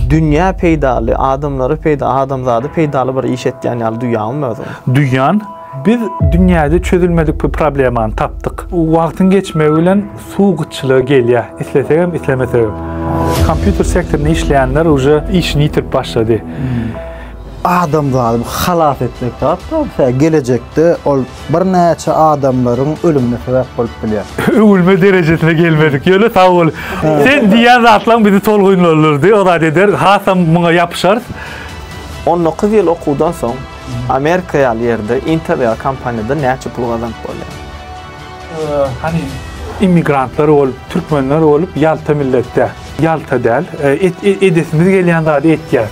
Dünýä peýdaly, adamlara peýdaly, adamzada peýdaly bir iş etýän ýaly duýýarmyň özüňi? Duýýan. Biz dünýäde çözülmedik bir problemany tapdyk. Wagtyň geçmegi bilen suw gytçylygy gelýär, islesegem, islemesegem. Kompýuter sektorynda işleýänler uje işini ýitirip başlady. Adamzady halas etmek zat-da, gelejekde ol Birnäçe adamlaryň ölümine sebäp bolup bilýär. Öwülme derejesine gelmedik ýöne sag bol. Sen diýýän zatlaň bizi tolgunlandyrdy. O zat eder, hasam muňa ýapyşarys. On dokuz ýyl okuwdan soň Amerika ýaly ýerde Intel ýaly kompaniýada näçe pul gazanyp bolýar? Hany immigrantlar bolup, türkmenler bolup ýalta millet däl. Ýalta däl. Edesimiz gelýän zady etýäs.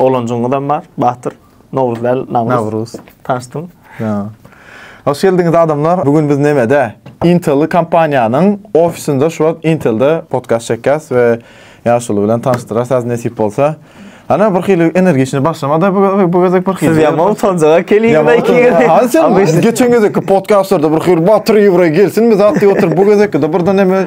Oglanjygyňyzam bar, Batyr. Nowruz däl, Nawruz. Nawruz. Tanyşdym. Ýa. Hoş geldiňiz adamlar. Bu gün biz nämede? Intel kompaniýanyň ofisinde şu wagt Intelde podcast çekýäs we ýaşuly bilen tanyşdyrarsyz nesip bolsa. Ana bir hili energiçni başlamada bu bu gezek bir hili. Siz ýaman utanjaga keliňiz iki gezek. Ha sen geçen gezek podcastlarda bir hili Batyr Ýewre gelsin biz atdy oturup bu gezek de birden näme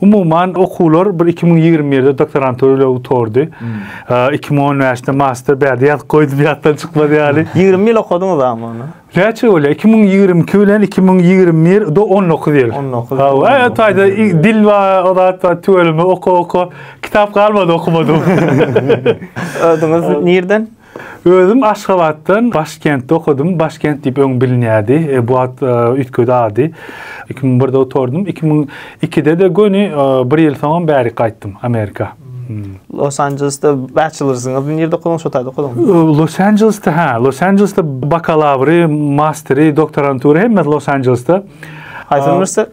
Umuman okuwlar bir iki müň ýigrimi birde doktorantura ile gutardy. Hmm. Iki müň on bäşde master bärde ýazyp goýdum ýatdan çykmady ýaly. Ýigrimi ýyl okadyňyz ama ony. Näçe bolýar? Iki müň ýigrimi iki bilen iki müň ýigrimi bir do on dokuz ýyl. On dokuz. Hawa, taýda dil we o zat we tüweleme oka oka kitap galmady okumadym. Ödüňiz nirden? Özüm Aşgabatdan Başkentde okadym. Başkent diýip öň bilinýärdi. E, bu at e, üýtgedi ady. 2001-de oturdym. 2002-de-de göni e, bir ýyl soňam bärik gaýtdym Amerika. Hmm. Los Anjelesde bachelorsyňyz nirde okudyň şo taýda okudyň? Los Anjelesde ha, Los Anjelesde bakalawry, masteri, doktorantýury hemmesi Los Anjelesde. Haýsy uniwersitet?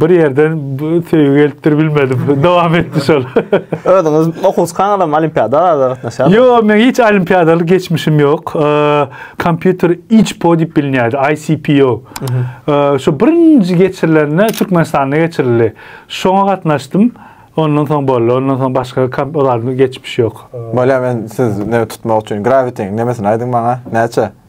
bir ýerden bu söýgi gelipdir bilmedim. Dowam etdi şol. Özüňiz okuwçykaňyzam olimpiadalara gatnaşýarsyňyz? Ýok, men hiç olimpiadaly geçmişim ýok. Kompýuter ICPO diýip bilinýärdi, ICPO. Şu birinji geçirilende Türkmenistanda geçirildi. Şoňa gatnaşdym. Ondan soň boldy. Ondan soň başga kompýuterli geçmiş ýok. Bolýar, men siz näme tutmak üçin Gravity-niň nämesini aýdyň maňa, näçe?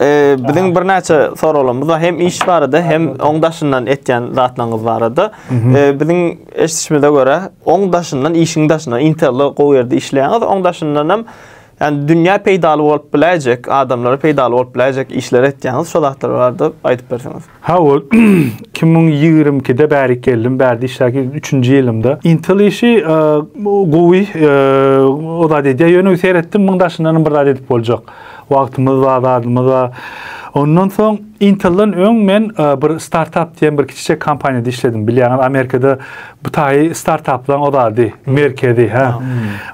Ee, biziň birnäçe soraglarymyz bar. Hem iş barada, hem oň daşyndan etýän zatlaryňyz barada. Ee, biziň eşitişimize görä, oň daşyndan, işiň daşyndan, Intel-de gowy ýerde işleýäňiz, oň daşyndan hem ýani dünýä peýdaly bolup biläýjek, adamlara peýdaly bolup biläýjek işleri etýäňiz. Şo zatlar barada aýdyp berseňiz. Haw, iki müň ýigrimi ikide bärik geldim, bärde işläp ýörün, üçünji ýylymda. Intel işi gowy, o zat edýär, ýöne seretdim, muň daşyndanam bir zat edip boljak. Wagtymyz bar, zadymyz bar. Ondan soň Intel-den öň men bir startap diýen bir kiçijek kompaniýada işledim. Bilýäňiz, Amerikada bu taýy startaplaryň o zady, merkezi, hä.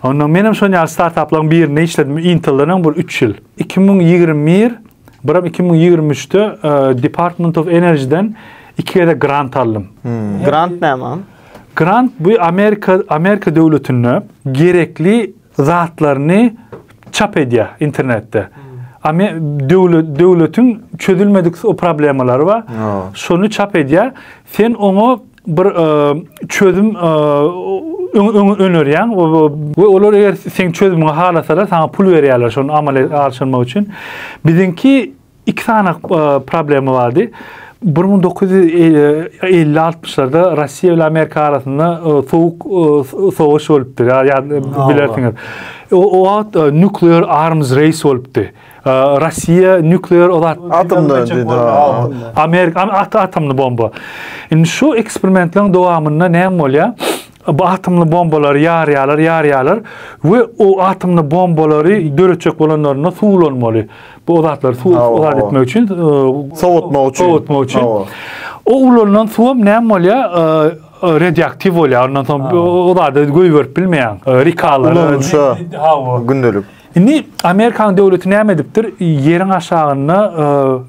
Ondan menem şonuň ýaly startaplaryň birinde işledim, Intel-den öň bir üç ýyl. Iki müň ýigrimi bir Biram iki müň ýigrimi üçde e, Department of Energy-den iki gezek grant aldym. Hmm. Grant näme? Grant bu Amerika Amerika döwletinde gerekli zatlaryny çap edýär internetde. Ame- döwlet döwletiň çözülmedik o problemalary bar. Ha. Şony çap edýär. Sen oňa bir çözüm önerýäň we olar eger seň çözümiňi halasalar, saňa pul berýärler şony amala aşyrmak üçin. Biziňki iki sany problema bardy. 1950-60-larda Russiýa bilen Amerika arasynda sowuk sowaş bolupdy. Ýa bilersiňiz. O wagt nuklear arms race bolupdy. Russiýa nuklear zat. Atomda diýdi. Amerika at atomly bomba. Indi şu eksperimentleriň dowamynda näme bolýar? Bu atomly bombalary ýarýarlar, ýarýarlar we o atomly bombalary döretjek bolanlarynda suwlanmaly. Bu o zatlary suw zat etmek üçin, sowatmak üçin. Sowatmak üçin. O ulanylan suw hem näme bolýar? Radioaktiw bolýar. Ondan soň o zady goýberip bilmeýär. Rikalar. Hawa. Gündelik. Indi Amerikanyň döwleti näme edipdir, ýeriň aşagynda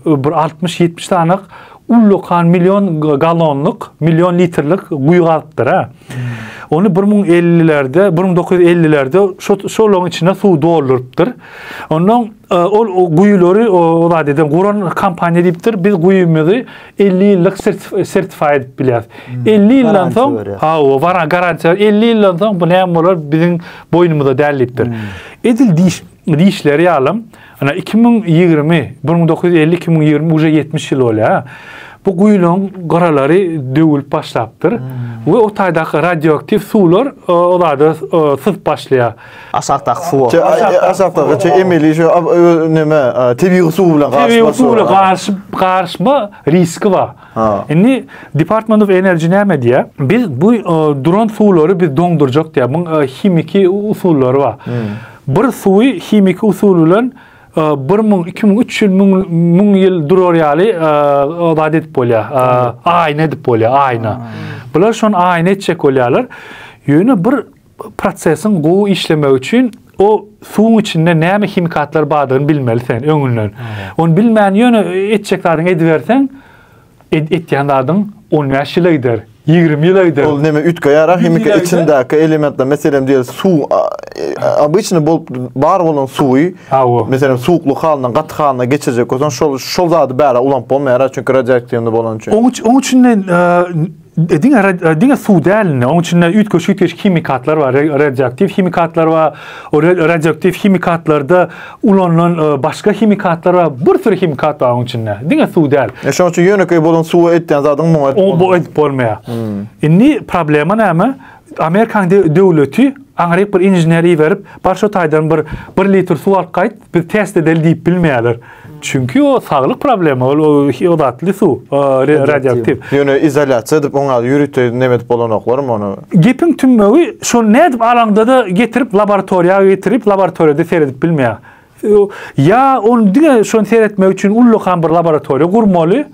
bir altmyş-ýetmiş sanak ullakan million gallonlyk, million litrlik guýy gazypdyr-a. Ony bir müň ellilerde, bir müň dokuz ýüz ellilerde şo şolaryň içine suw doldurypdyr. Ondan ol guýulary o zat eden guran kompaniýa diýipdir, biz guýymyzy 50 ýyllyk sertify edip bilýär. 50 ýyldan soň, hawa, wara garantiýa, 50 ýyldan soň bu näme bolar, biziň boýnumyza däl diýipdir. Edil diş dişleri ýaly, ana 2020, 1950-2020 uje 70 ýyl bolýar. Bu guýularyň gyralary döwülip başlapdyr we o taýdaky radioaktiw suwlar o zada syzyp başlaýar. Aşakdaky suwa. Şo aşakdaky şo emeli şo neme tebigy suw bilen garyşma. Tebigy suw bilen garyşyp garyşma riski bar. Indi Department of Energy näme diýýär? Biz bu duran suwlary biz doňdurjak diýýär. Muň himiki usullary bar. Hmm. Bir suwy himiki usul bilen 1000, 2000, 3000 müň ýyl durar ýaly zat edip bolýar. Aýna edip bolýar, aýna. Bular şon aýna etjek bolýarlar. Ýöne bir Prosesiň gowy işlemegi üçin o suwuň içinde näme himikatlar bardygyny bilmeli sen öňünden. Ony bilmän ýöne etjek zadyňy ediberseň, et, etýän zadyň 15 ýyla gider. 20 ýyla gider. Ol näme üýtge ýarar himiki içindäki elementler, meselem diýeli suw, obyçny bolup bar bolan suwy, meselem suwukly halyndan gaty halyna geçirjek bolsaň, şol şol zady bära ulanyp bolmaýar, çünki radioaktiwny bolany üçin. Oň üçin, oň üçin E, diňe e, diňe suw däl indi. Onuň içinde üýtgeşik-üýtgeşik himikatlar bar, radioaktiw himikatlar bar. O radioaktiw himikatlarda ulanylan e, başga himikatlar bar. Bir sürü himikat bar onuň içinde. Diňe suw däl. E şonuň üçin ýönekeý bolan suwa etýän zadyň muňa etmez. O bu edip bolmaýar. Hmm. Indi problema näme? Amerikanyň döwleti aňryk bir inžener iberip, bar şo taýdan bir bir litr suw alyp gaýt, biz test edeli diýip bilmeýärler. Çünki o saglyk problema, ol o datly suw, radioaktiw. Ýöne izolýasiýa edip oňa ýörite näme edip bolanoklarymy ony? Gepiň tümmewi şol nädip alaňda-da getirip laboratoriýa getirip laboratoriýada seredip bilmeýär. Ýa ony diňe şony seretmek üçin ullakan bir laboratoriýa gurmaly.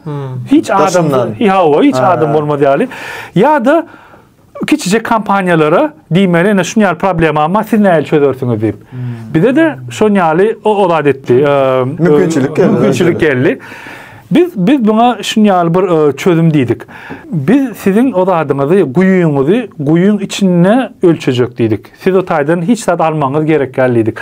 Hiç adam, hawa, hiç adam bolmaz ýaly. Ýa-da Kiçijek kompaniýalara diýmeli ene şun ýaly problemam bar, siz nähili çözersiňiz diýip. Hmm. Bize de şon ýaly o ozat etdi. Mümkinçilik geldi. Mümkinçilik geldi. Biz biz buna şun ýaly bir çözüm diýdik. Biz siziň ozadyňyzy, guýuňyzy guýuň içinde ölçejek diýdik. Siz o taýdan hiç zat almaňyz gerek däl diýdik.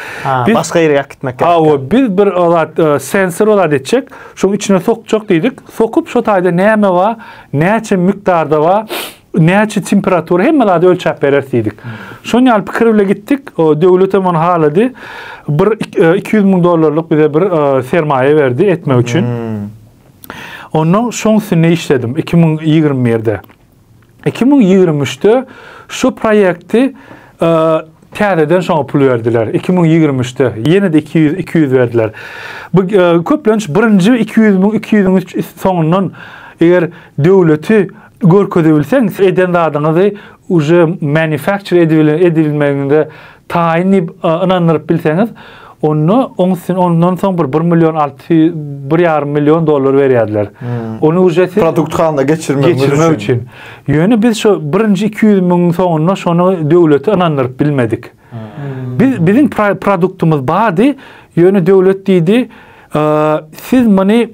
Biz başga ýere ýak gitmek gerek. Hawa, biz bir ozat sensor ozat etjek, şoň içine sokjak diýdik. Sokup şo taýda näme bar, näçe mikdarda bar, näçe temperatura hemme zady ölçäp bereris diýdik. Şon ýaly pikir bilen gitdik. Döwlet hem ony halady. Bir 200 e, müň dollarlyk bize bir e, sermaýa berdi etmek üçin. Hmm. Ondan şoň üstünde işledim 2021-de. 2023-de şu proýekti e, täzeden şoňa pul berdiler. 2023-de ýene-de 200 200 berdiler. Bu köplenç birinji 200 müň 200-üň soňundan eger döwleti Görkezibilseň eden zadyňyzy uje manufacture edibilen edibilmegiňize taýyn diýip ynandyryp bilseňiz onda oň üstüne ondan soň bir bir million alty ýüz bir ýarym million dollar berýärdiler. Ony uje siz Produkt halna geçirmek geçirmek üçin. Ýöne biz şu birinji iki ýüz müňüň soňunda şony döwlete ynandyryp bilmedik. Biz biziň produktymyz bardy, ýöne döwlet diýdi, siz muny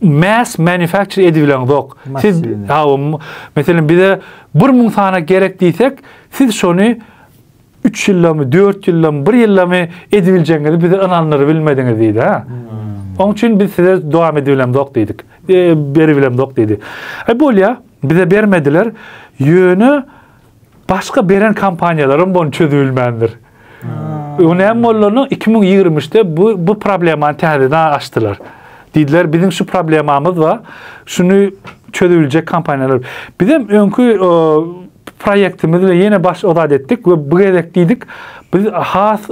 mass manufacture edibileňzok. Siz hawa, meselem bize 1000 sana gerek diýsek, siz şony 3 ýyldamy, 4 ýyldamy, 1 ýyldamy edibiljegiňizi bize ynandyryp bilmediňiz diýdi. Ha? Hmm. Oň üçin biz size dowam edibileňzok diýdik. E, beribileňzok diýdi. E bolýa, bize bermediler. Ýöne Başga beren kompaniýalaram bony çözübilmändir. Öňe näme bolanyny 2023-de bu bu problemany täzeden açdylar. Diýdiler, biziň şu problemamyz bar. Şuny çözübiljek kompaniýalar. Biz hem öňki proýektimiz we ýene baş ozat etdik we bu gezek diýdik, biz has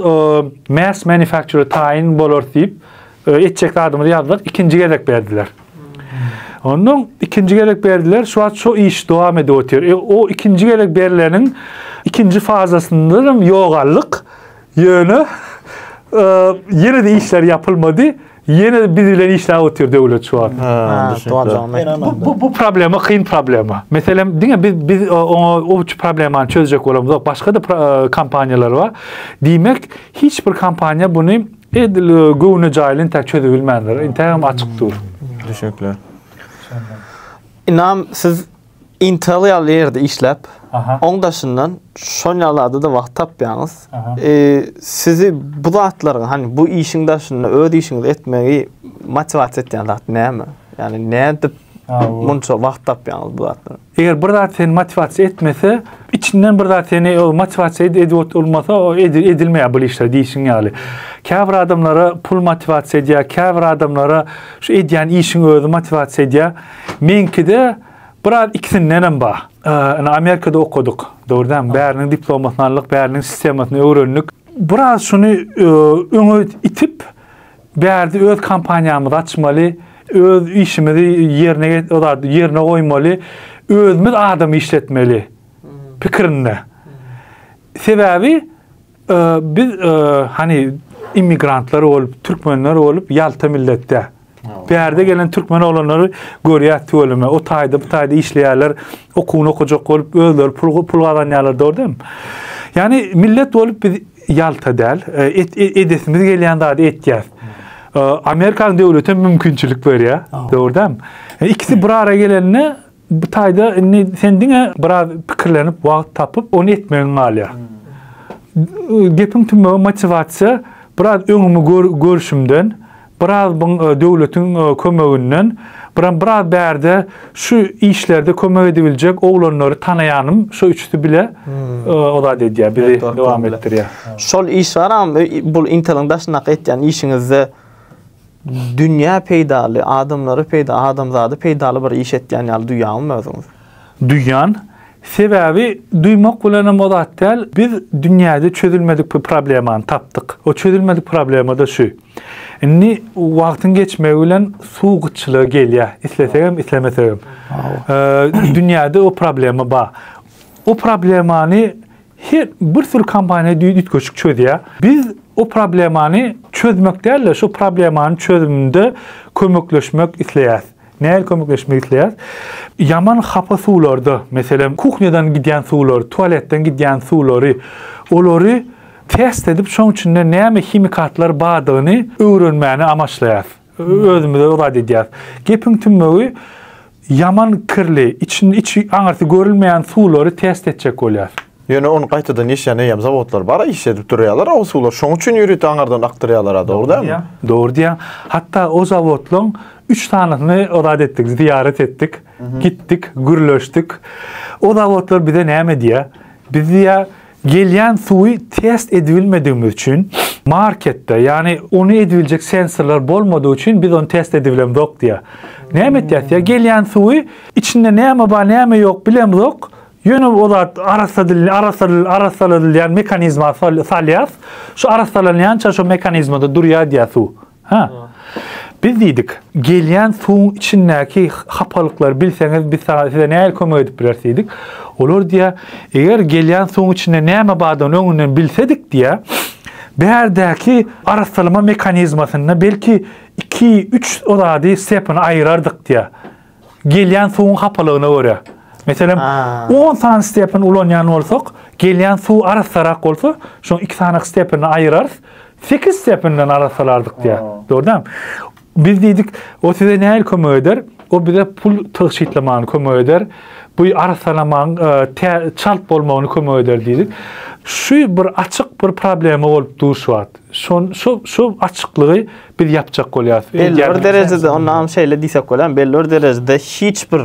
mass manufacturer taýyn bolar diýip, Etjek zadymyzy ýazdyk, ikinji gezek berdiler. Ondan ikinji gezek berdiler, şu wagt şu iş dowam edip otyr. E, o ikinji gezek berleniň ikinji fazasynda hem ýogaldyk. Ýöne e, ýene de işler ýapylmady. Ýene de biz bilen işläp otyr döwlet şu wagt. Bu, bu, bu problema kyn problema. Meselem, diňe biz biz e, oňa o problemany çözjek bolamyzok. Başga da e, kompaniýalar bar. Diýmek, hiç bir kompaniýa buny Edil göwne jaýly entäk çözübilmändir. Entägem açyk dur. Düşekler. Ynam siz Intel ýaly ýerde işläp, oň daşyndan şon ýalada da wagt tapýaňyz. Sizi bu zatlaryň, hany bu işiň daşynda öz işiňizi etmegi motiwasiýa etýän zat näme? Ýagny nädip munça wagt tapýaňyz bu zatlara? Eger bir zat seni motiwasiýa etmese, içinden bir zat seni o motiwasiýa ed- edip ot- olmasa, o edi- edilmeýär bu işler diýşiň ýaly. Käbir adamlara pul motiwasiýa edýär, käbir adamlara şu edýän işiň özi motiwasiýa edýär. Meňkide biraz ikisindenem bar. Ee, ine, Amerikada okadyk, dogry dälmi? Bäriniň diplomasyny aldyk, bäriniň sistemasyny öwrendik. Biraz şuny e, öňe itip, Bärde öz kompaniýamyzy açmaly, öz işimizi ýerine goýmaly, özümiz adam işletmeli pikirinde. Sebäbi biz hany immigrantlar bolup, türkmenler bolup ýalta milletde. Bärde gelen türkmen oglanlary görýär tüweleme, o taýda, bu taýda işleýärler, okuwyny okajak bolup, özleri pul gazanýarlar, dogry däl. Ýani millet bolup biz Ýalta däl. Edesimiz gelýän zady etýäs. Amerikan döwleti mümkinçilik berýär. Dogry däl. Ikisi bir ara gelende bu taýda indi sen diňe biraz pikirlenip wagt tapyp ony etmegiň galýar. Gepiň tümegi motiwasiýa biraz öňümi görüşimden Biraz bun döwletiň kömeginden biram biraz bärde şu işlerde kömek edibiljek oglanlary tanaýanym şu üçüsi bile o zat edýär bizi dowam etdirýär. Şol iş baram bul inteliň daşyndaky etýän işiňizde dünýä peýdaly adamlary peýda adamzady peýdaly bir iş etýän ýaly duýýaňyzmy özüňizi? Duýýan. Sebäbi duýmak bilenem o zat däl biz dünýäde çözülmedik bir problemany tapdyk. O çözülmedik problemada şu. Indi wagtyň geçmegi bilen suw gytçylygy gelýär. Islesegem, islemesegem. Dünýäde o problema bar. O problemany her bir sürü kompaniýa düýtgeşik çözýär. Biz o problemany çözmek däl-de, şu problemanyň çözüminde kömekleşmek isleýäs. Nähili kömekleşmek isleýäs? Ýaman hapa suwlarda, meselem, kuhnýadan gidýän suwlar, tualetden gidýän suwlary, olary test edip, şoň içinde näme himikatlar bardygyny öwrenmäni amaçlaýas. Özümize ozat edýäs. Gepiň tümmewi ýaman kirli, içini içi aňyrsy görülmeýän suwlary test etjek bolýas. Ýöne ony gaýtadan işleýän eýýäm zawodlar bar-a, iş edip durýarlar-a o suwlar. Şoň üçin ýörite aňyrdan akdyrýarlar-a, dogry dälmi? Dogry diýýäň. Hatda o zawodlaryň üç sanysyny ozat etdik, zyýarat etdik, gitdik, gürleşdik. O zawodlar bize näme diýýär? Biz diýýär, gelýän suwy test edibilmedigimiz üçin marketde, ýagny ony edibiljek sensorlar bolmadygy üçin biz ony test edibilemzok diýýär. Näme etýäs diýýär, gelýän suwy içinde näme bar, näme ýok bilemzok, Ýöne o zat arassadylny arassadyl arassaladylýan mekanizma sal salýas. Şu arassalanýança şu mekanizmada durýar diýýär suw. Hä. Biz diýdik, gelýän suwuň içindäki hapalyklary bilseňiz biz saňa size nähili kömek edip bileris diýdik. Olar diýýär, eger gelýän suwuň içinde näme bardygyny öňünden bilsedik diýýär, bärdäki arassalama mekanizmasynda belki iki, üç o zady stepany aýyrardyk diýýär. gelýän suwuň hapalygyna görä. Meselem, 10 sany stepin ulanýan bolsak, gelýän suw arassarak bolsa, şoň iki sany stepini aýyrarys, 8 stepinden arassalardyk diýär. Dogrudan. Biz diýdik, o size näil kömek eder? O bize pul tygşytlamagyny kömek eder. Bu arassalamagyň e, çalt bolmagyny kömek eder diýdik. Şu bir açyk bir problema bolup duşýar. Şon şu şu açyklygy biz ýapjak bolýarys. Belli bir derejede onam şeýle diýsek bolýar, belli bir derejede hiç bir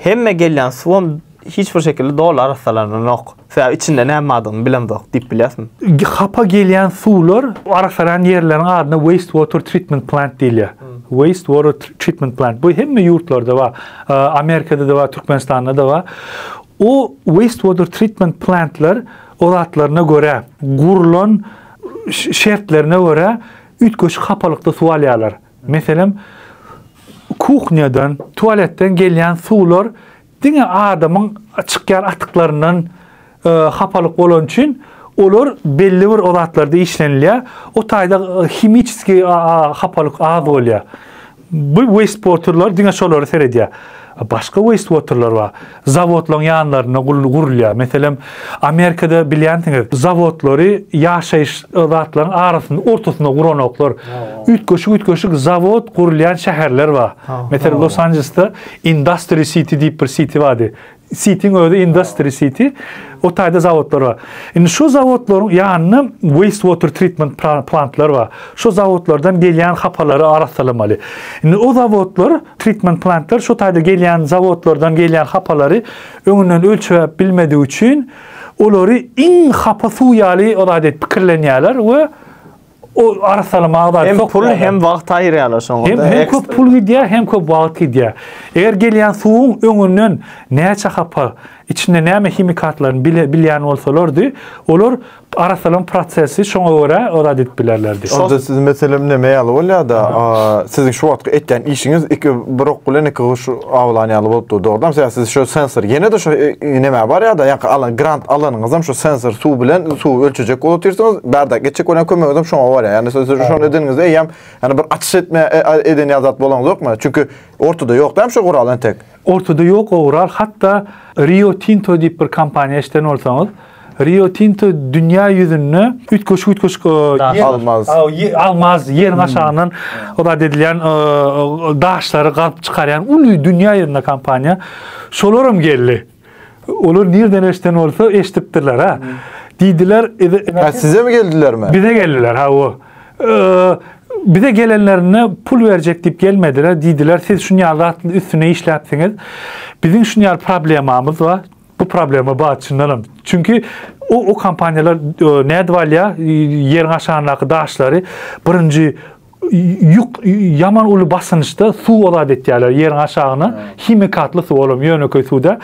hemme gelýän suwam hiç bir şekilde doly arassalananok. Sebäbi içinde näme bardygyny bilemzok diýip bilýäsmi? Hapa gelýän suwlar arassalan ýerleriň adyna waste water treatment plant diýilýär. Waste water treatment plant. Bu hemme ýurtlarda bar. Amerikada da bar, Türkmenistanda da bar. O waste water treatment plantlar odatlaryna görä gurlan şertlerine görä üýtgeşik hapalykda suw alýarlar. Meselem, kuhnýadan, tualetden gelýän suwlar diňe adamyň çykýan atyklaryndan e, hapalyk bolan üçin olar belli bir o zatlarda işlenilýär. O taýda e, himiçeski hapalyk az bolýar. Bu wastewaterlar diňe şolara seredýär. Başga wastewaterlar bar. Zawodlaryň ýanlarynda gurulýar. Meselem, Amerikada bilýänsiňiz, zawodlary ýaşaýyş zatlaryň arasynda, ortasynda guranoklar. Üýtgeşik-üýtgeşik zawod gurulýan şäherler bar. Meselem, Los-Anjelesde Industry City diýip bir city bardy. Sitiň özi industry siti. O taýda zawodlar bar. Indi şo zawodlaryň ýanynda waste water treatment plantlary bar. Şo zawodlardan gelýän hapalary arassalamaly. Indi o zawodlar, treatment plantlar şo taýda gelýän zawodlardan gelýän hapalary öňünden ölçäp bilmedigi üçin olary iň hapa suw ýaly o zat edip pikirlenýärler we O arassaly magda Hem pul hem wagt aýyrýarlar şoňa. Hem hem köp pul gidýär, hem köp wagt gidýär. Eger gelýän suwuň öňünden näçe hapa, içinde näme himikatlaryny bile bilýän bolsalardy, olar arassalaň prosesi şoňa görä ozat edip bilerlerdi. Onda siziň meselem näme ýaly bolýardy? Siziň şu wagtky etýän işiňiz iki bir ok bilen iki guş awlan ýaly bolup dur. Dogrudan hem siz şu sensor ýene de şu e, e, näme bar ýa-da ýa alan grant alanyňyzam şu sensor suw bilen suw ölçejek bolup otyrsyňyz. Bardak geçjek bolan kömegiňiz hem şoňa bar. Ýani siz şonu edeniňizde eýýäm ýani bir açyş etme e, eden ýa zat bolaňyzokmy? Çünki ortada ýok hem şu gural entek. Ortada ýok o gural. Hatda Rio Tinto diýip bir kompaniýa eşden bolsaňyz, Rio Tinto dünýä ýüzünde üýtgeşik üýtgeşik almaz. Almaz ýeriň aşagyndan ozat edilýän daşlary gazyp çykarýan uly dünýä ýüzünde kompaniýa. Şolar hem geldi. Olar nirden eşden bolsa eşdipdirler ha. Diýdiler, size mi geldilermi? Bize geldiler ha o. Bize gelenlerinde pul berjek diýip gelmediler. Diýdiler, siz şunýaly zatly üstüne işläpsiňiz. Biziň şunýaly problemamyz bar. Bu problema bar çyndanam. Çünki o o kompaniýalar e, nädip alýar ýeriň aşagyndaky daşlary birinji ýük ýaman uly basynçda suw ozat etýärler ýeriň aşagyna himikatly suw olam ýönekeý suwda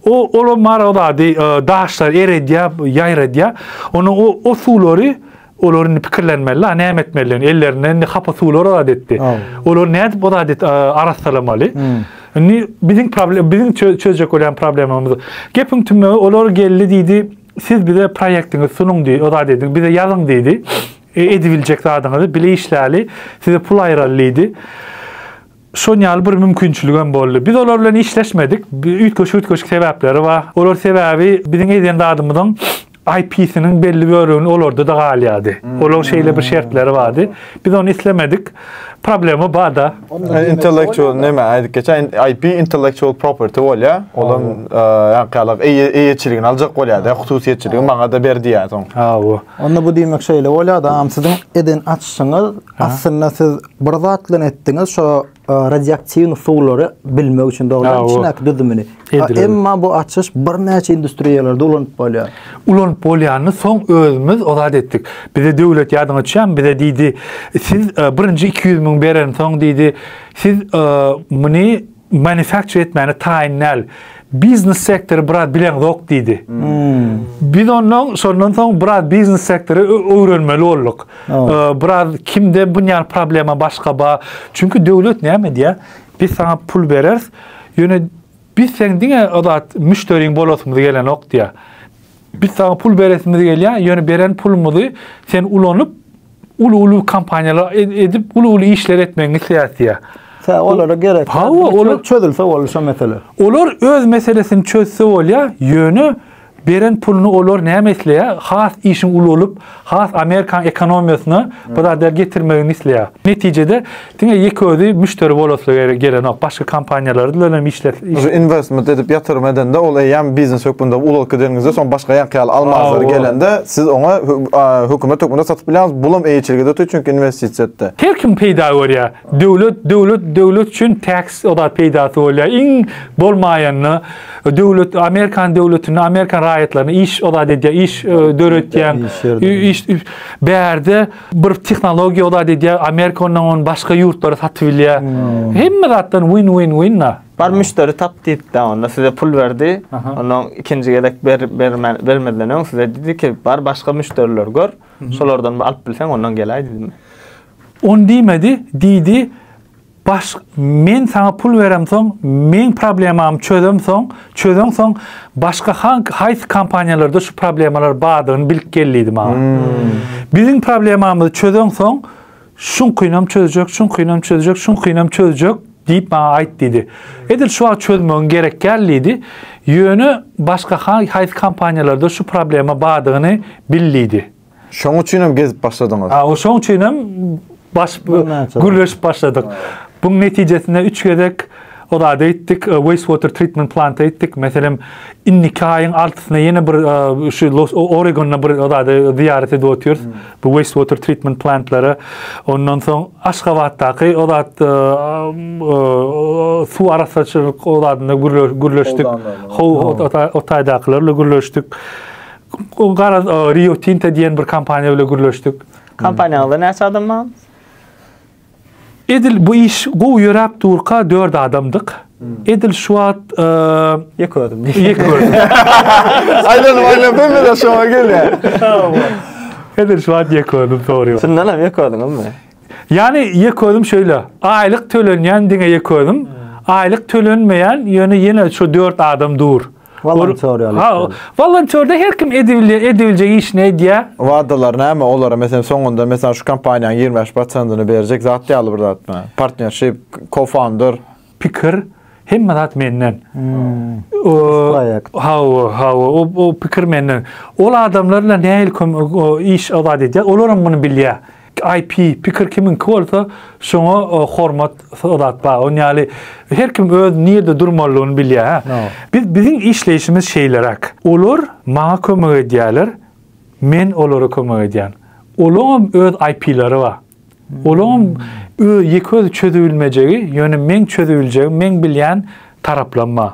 o olam mara ozady e, daşlar eredýär ýaýradýar onu o, o suwlary Olar indi pikirlenmeli, a näme etmelidigini, ellerinden indi hapa suwlar azat etdi. Olar nädip azat et, arassalamaly? Hmm. Indi biziň problem, biziň çözjek bolan problemamyz. Gepiň tümügi olar geldi diýdi, siz bize proýektiňizi sunuň diýdi, azat ediň, bize ýazyň diýdi. E, edibiljek zadyňyzy bile işläli, size pul aýraly diýdi. Şon ýaly bir mümkinçiligem boldy. Biz olar bilen işleşmedik. Üýtgeşik-üýtgeşik sebäpleri bar. Olar sebäbi biziň edýän zadymyzyň IP-siniň belli bölegini olarda-da galýardy. Olaryň şeýle bir şertleri bardy. Biz ony islemedik. Problema bar-da. Intellektual näme aýdyp geçen IP intellektual property bolýa. Olam ýaňkyýalak eýeçiligini aljak bolýardy. Hususyýetçiligi maňa-da ber diýýär soň. Hawa. Onda bu diýmek şeýle bolýar-da, siziň eden açyşyňyz aslynda siz Bir zat bilen etdiňiz, şo e, radioaktiwny suwlary bilmek üçin dogrudan içindäki düzümini. Emma bu açyş birnäçe industriýalarda ulanyp bolýar. Ulanyp bolýanyny soň özümiz ozat etdik. Bize döwlet ýadyňa düşýärmi? Bize diýdi, siz e, birinji 200 müň beren soň diýdi, siz e, muny manufacture etmäne taýyn däl. Biznes sektory biraz bileňzok diýdi. Hmm. Biz ondan şondan soň biraz biznes sektory öwrenmeli bolduk. Biraz kimde bunýan problema başga ba. Çünki döwlet näme diýä? Biz sana pul bereris. Ýöne biz sen diňe o zat müşteriň bolasymyz gelenok diýä. Biz saňa pul beresimiz gelýär, ýöne beren pulumyzy sen ulanyp, uly-uly kompaniýalar ed- edip, uly-uly işler etmegiňi isleýäs diýýär. Tä olara gerek. Hawa, Biri çö- olar- çözülse boldy şu mesele. Olar öz meselesini çözse bolýar, ýöne beren puluny olar näme isleýär? Has işiň ulalyp, Has amerikan ekonomiýasyna bu zatlar getirmegini isleýär. Netijede diňe ýeke özi müşderi bolasy gelenok. Başga kompaniýalary bilen hem işler. Şu investment edip ýatyrym edende ol eýýäm biznes hökmünde ulag gidenizde soň başga ýaňky ýaly almazlar gelende siz oňa hökümet hökmünde satyp bilýäňiz. Bulam eýeçilige de ötýär çünki investisiýa etdi. Her kim peýda görýär. Döwlet döwlet döwlet üçin tax oda peýdasy bolýar. Iň bolmaýanda döwlet Amerikan döwletinde Amerikan raýatlaryna iş ozat edýär, iş döretýär. Iş bärde bir tehnologiýa ozat edýär, Amerika ondan ony başga ýurtlara satyp bilýär. Hemme zatdan win win win da. Bar müşderi tap diýipdi onda size pul berdi. Ondan ikinji gezek ber bermän bermeden öň size diýdi ki, bar başga müşderiler gör. Şolardan alyp bilseň ondan gelaý diýdi. On diýmedi, diýdi, Baş, men saňa pul beremsoň, meň problemamy çözemsoň, çözeňsoň, başga hank, haýsy kompaniýalarda şu problemalar bardygyny bilip gel diýdi maňa. Hmm. Biziň problemamyzy çözeňsoň, şuňkynam çözjek, şuňkynam çözjek, şuňkynam çözjek diýip maňa aýt diýdi. Edil şu wagt çözmegiň gerek däl diýdi. Ýöne başga haýsy kompaniýalarda şu problema bardygyny bil diýdi. Şoň üçinem gezip başladyňyz. A o şoň üçinem baş gürleşip başladyk. Buň netijesinde üç gezek o zady etdik, wastewater treatment plant etdik. Meselem, indiki aýyň altysyna ýene bir şu Oregonyna bir o zady zyýarat edip otyrys. Bu wastewater treatment plantlary. Ondan soň Aşgabatdaky o zat suw arassaçylyk o zadyna gürleşdik. Ho o taýdakylar bilen gürleşdik. Garaz, Rio Tinto diýen bir kompaniýa bilen gürleşdik. Kompaniýaňyzda näçe adam bar? Edil bu iş gowy ýöräp durka dört adamdyk. Hmm. Edil şu wagt ýek ördüm. Ýek ördüm. Aýdan aýdan ben bilen şoňa gelýär. Edil şu wagt ýek ördüm dogry. Şundan hem ýek ördüňizmi? Ýani ýek ördüm şöyle. Aýlyk tölenýän diňe ýek ördüm. Hmm. Aýlyk tölenmeýän ýöne ýene şu dört adam dur. Volontör ýaly. Ha, volontörde her kim edibilýär, edibiljek işini edýär. Wadalar näme olara? Meselem, soňunda meselem şu kompaniýanyň 25 prosentyny berjek zat ýaly bir zatmy? Partnership, co-founder. Pikir, hemme zat menden. Proýekt. Ha, ha, o, o pikir menden. Ol adamlar bilen nähili iş abat edýär? Olar hem muny bilýär. IP pikir kimiňki bolsa şoňa e, hormat zat bar. Oň ýaly her kim öz nirde durmalyny bilýär. ha. Biz biziň işleýşimiz şeýleräk. Olar maňa kömek edýärler, men olara kömek edýän. Olaňam öz IP-lary bar. Olaňam ö- ýeke özi çözübilmejegi, ýöne meň çözübiljegim, meň bilýän taraplam bar.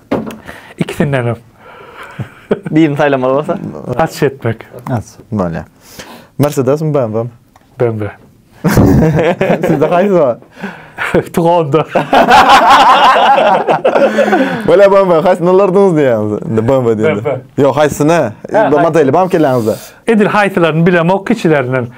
Ikisindenem. Birini saýlamaly bolsa? Aç etmek. Aç. Bolýar. Mersedesmi, BMW? BMW. Sizde haýsy bar? Tugonda. Bolýar BMW, haýsyny alardyňyz diýýäňiz? Indi BMW diýende. BMW. Ýok, haýsyny? Modeli barmy kelläňizde? Edil haýsylaryny bilemok kiçilerinden.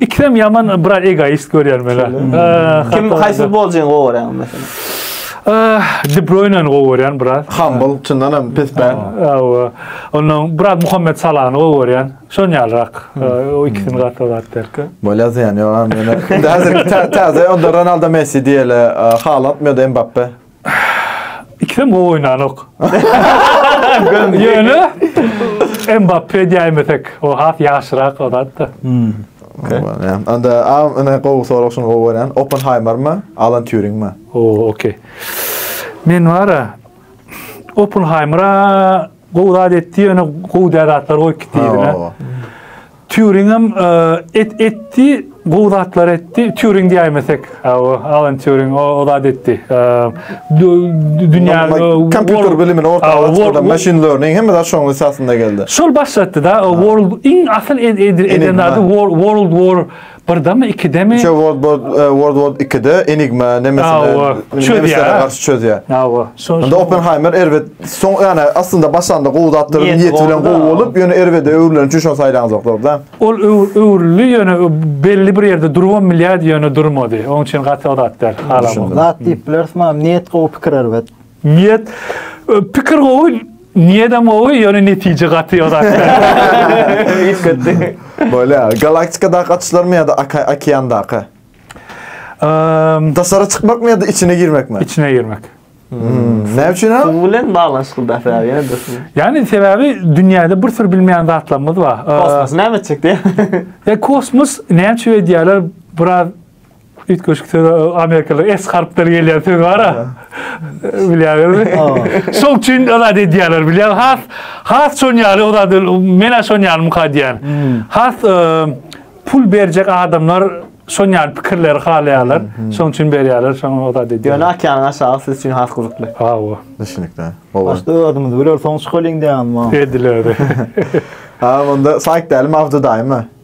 İkisem yaman biraz egoist görýär meni. Kim haýsy futbolçyny gowy görýäň meselem? De Bruyne-ni gowy görýän biraz. Humble, çyndan hem pes bän. Hawa. Ondan biraz Muhammed Salahny gowy görýän. Şon ýalyrak. O ikisini gaty zat derki. Bolýa ýan ýok, meni. Häzir täze onda Ronaldo Messi diýeli, Haaland ýa-da Mbappe. Ikisem gowy oýnanok. Ýöne Mbappe diýmesek, o has ýaşyrak o zatda. Hmm. Anda a ene gowy sorag şuny gowy görýän. Oppenheimer mi? Alan Turing mi? O, okey. Men wara Oppenheimera Gowy zat etdi, ýöne gowy däl zatlar goýup gitdi ýüzüne. Turing hem e, et etdi, gowy zatlar etdi. Turing diýmesek, Alan Turing o, o zat etdi. E, dünýä kompýuter bilimini ortaga çykardy, machine learning hem de şoň esasynda geldi. Şol başlatdy da World iň asyl eden zat World War Birdemi, ikidemi? Üçe World War e, World War 2-de Enigma Awa, nemesine çözýär. nemeslere garşy çözýär. Awa. Şo- Onda şo- Oppenheimer erbet soň yani aslında başanda gowy zatdyr Niyeti niyeti bilen gowy gowy da. bolup ýöne erbede öwrülen üçin şony saýlanzoklar da. Ol öw- öwrüldi ýöne ö- belli bir ýerde durubam bilýärdi ýöne durmady. Oň üçin gaty o zatlar halam. Düşündim. Zat diýip bileris mam, niýet gowy pikir erbet. Niýet pikir gowy, niýedem gowy, ýöne netije gaty ýorak. Üýtgetdi. Bolýa. Galaktikadaky açyşlarmy ýa-da okeandaky? Eee, Daşary çykmakmy ýa-da içine girmekmi? içine girmek. Näme üçin? Suw bilen baglanyşykly daşy ýaly ýene dursun. Ýani sebäbi dünýäde bir sürü bilmeýän zatlarymyz bar. Eee, Kosmos näme etjek diýýär. Eee, kosmos näme üçin öýdýärler? Biraz Üýtgeşik söz amerikaly S harpleri gelýän söz bar-a. Bilýäňizmi? Şol üçin zat edýärler, bilýän. Has has şon ýaly o zat men şon ýaly muka diýýän. Hmm. Has e, pul berjek adamlar şon ýaly pikirleri halaýarlar. Hmm, hmm. Şoň üçin berýärler, şoň o zat edýärler. Ýöne akýanyň aşagy siz üçin has gyzykly. Hawa. Düşünikli. Oba. Başda özümiz biler soň çykalyň diýýän ma. Ediler. Ha, onda saýt däli mawzudaýmy?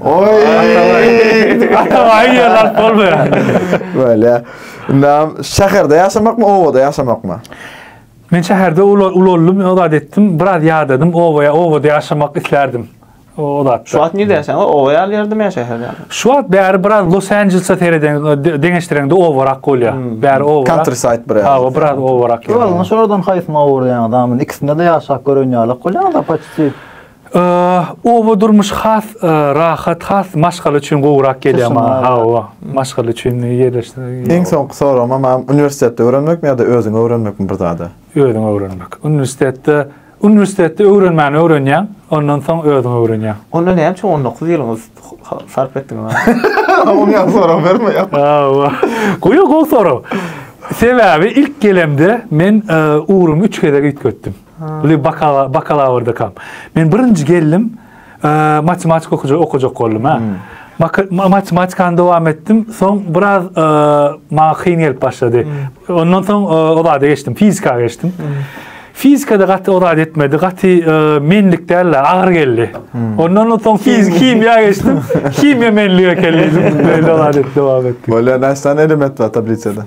Oy! Atabaýy ýer alyp bolmaýar. Böyle. Nam şäherde ýaşamakmy, obada ýaşamakmy? Men şäherde ulaldym, o zat etdim. Biraz ýadadym, obaya, obada ýaşamak islärdim. O zat. Şu wagt nirde ýaşaýaň? Oba ýaly ýerdemi ýa şäherde ýaly? Şu wagt bäri biraz Los Anjelesa sereden deňeşdireňde obarak bolýar. Hmm. Bäri oba. Countryside biraz. Ha, o biraz obarak. Ýolun şordan haýsyny owurýaňyz? Amin ikisinde de ýaşap gören ýaly bolýaňyz, apaçy. Oba durmuş has rahat, has maşgala üçin gowrak gelýär maňa. Hawa, maşgala üçin ýerleşdirmek. Iň soňky soragym hem uniwersitetde öwrenmekmi ýa-da özüňi öwrenmekmi bir zada? Özüňi öwrenmek. Uniwersitetde uniwersitetde öwrenmäni öwrenýäň, ondan soň özüňi öwrenýäň. Onda näme üçin 19 ýylyňyzy sarp etdiňiz? Oňa ýa sorag bermeýär. Hawa. Goýa gowy sorag. Sebäbi ilk gelemde men ugrumy üç gezek üýtgetdim. Uly bakalawrdakam. Men birinji geldim, matematika okujak okujak boldum ha. Matematikany dowam etdim. Soň biraz maňa kyn gelip başlady. Ondan soň o zada geçdim, fizika geçdim. Fizikada gaty o zat etmedi. Gaty menlik däl, agyr geldi. Ondan soň fizik, himiýa geçdim. Himiýa menlige keldi. Beýle zat dowam etdi. Bolýar, näçe element bar tablisada?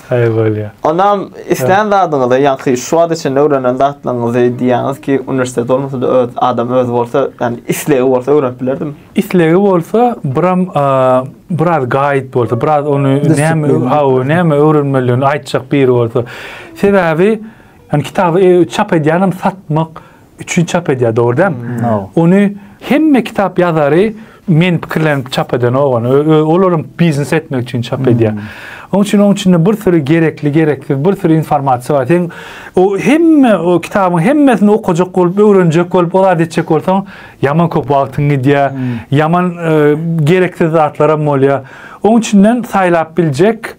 Haýyr bolýa. Onam islän zadyňyzy ýaňky şu wagt içinde öwrenen zatlaryňyzy diýýäňiz ki uniwersitet bolmasada öz adam özi bolsa ýani islegi bolsa öwrenip bilerdim. Islegi bolsa biram biraz gaýyt bolsa biraz ony näme hawa näme öwrenmelidigini aýtjak biri bolsa. Sebäbi ýani kitaby çap edýänem satmak üçin çap edýär, dogry dälmi? Ony hemme kitap ýazary men pikirlenip çap edenok ony. Olaryň biznes etmek üçin çap hmm. edýär. Onuň üçin onuň içinde bir sürü gerekli, gereksiz bir sürü informasiýa bar. Sen o hemme o kitabyň hemmesini okajak bolup, öwrenjek bolup, o zat etjek bolsaň, ýaman köp wagtyň gidýär. Hmm. Ýaman e, gereksiz zatlar hem bolýar. Onuň üçinden saýlap biljek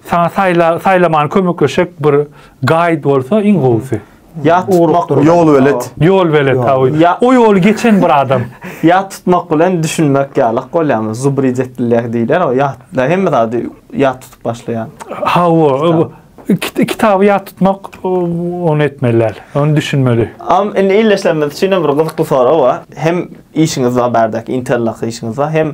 Saňa saýla saýlamany kömekleşek bir gaýd bolsa iň gowusy. Ýat tutmak bolsa. Ýol belet. Ýol belet ha oý. O ýoly geçen bir adam. Ýat tutmak bilen düşünmek ýalak bolýamy? Zubridetlilýäh diýler o ýat. Da hemme zady ýat tutup başlaýan. Ha o. Kit kitaby ýat tutmak ony etmeli däl. Ony düşünmeli. Am indi illeşlerimiz üçin bir gyzykly sorag bar. Hem işiňiz bar bärdäki interlak işiňiz bar. Hem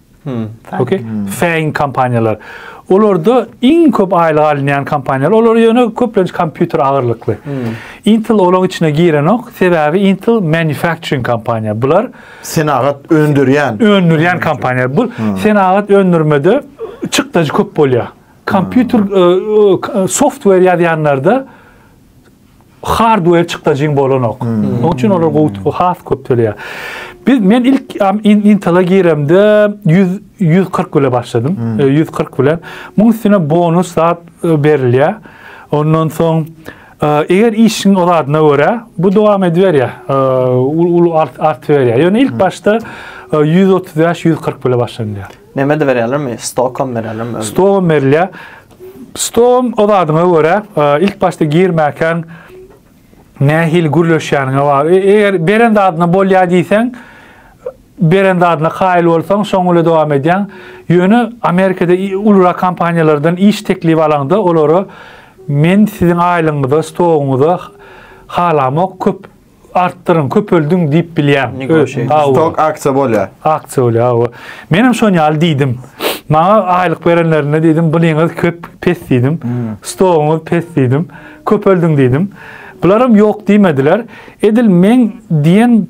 Hmm. Okay. Hmm. Fäin kompaniýalar. Olarda iň köp aýlyk alynýan kompaniýalar, olar ýöne köplenç kompýuter agyrlykly. Hmm. Intel olaryň içine girenok, sebäbi Intel manufacturing kompaniýa. Bular senagat öndürýän, öndürýän kompaniýa. Bu hmm. senagat öndürmede çykdajy köp bolýar. Kompýuter hmm. e, e, software ýazýanlarda hardware çykdajyň bolanok. Hmm. Onuň üçin olar gowy has köp töleýär. Biz men ilk Intel-a giremde 100 140 bile başladym. 140 hmm. e, bilen. Muň üstüne bonus zat e, berilýär. Ondan soň e, eger işiň o zadyna görä, bu dowam ediberýär. Ulu art art berýär. Ýöne ilk hmm. başda 135-140 bile başlanýar. Näme de berýärlermi? Stokom berýärlermi? Stokom berýär. Stoluň ybadyňa görä, ilk başda girmäkäň nähili gürleşýäniňe bagly. Eger beren zadyna bolýar diýseň, beren zadyna kaýyl bolsaň, şoň bilen dowam edýäň. Ýöne Amerikada ulurak kompaniýalardan iş teklibi alaňda, olara men siziň aýlygyňyza, stoguňyza halamok, köp artdyryň, köpeldiň diýip bilýäň. Stok aksiýa bolýar. Aksiýa bolýar, hawa. Men hem şon ýaly diýdim. Maňa aýlyk berenlerinde diýdim, bulyňyz köp pes diýdim. Hmm. Stogyňyz pes diýdim. Köpeldiň diýdim. Bular hem ýok diýmediler. Edil men diýen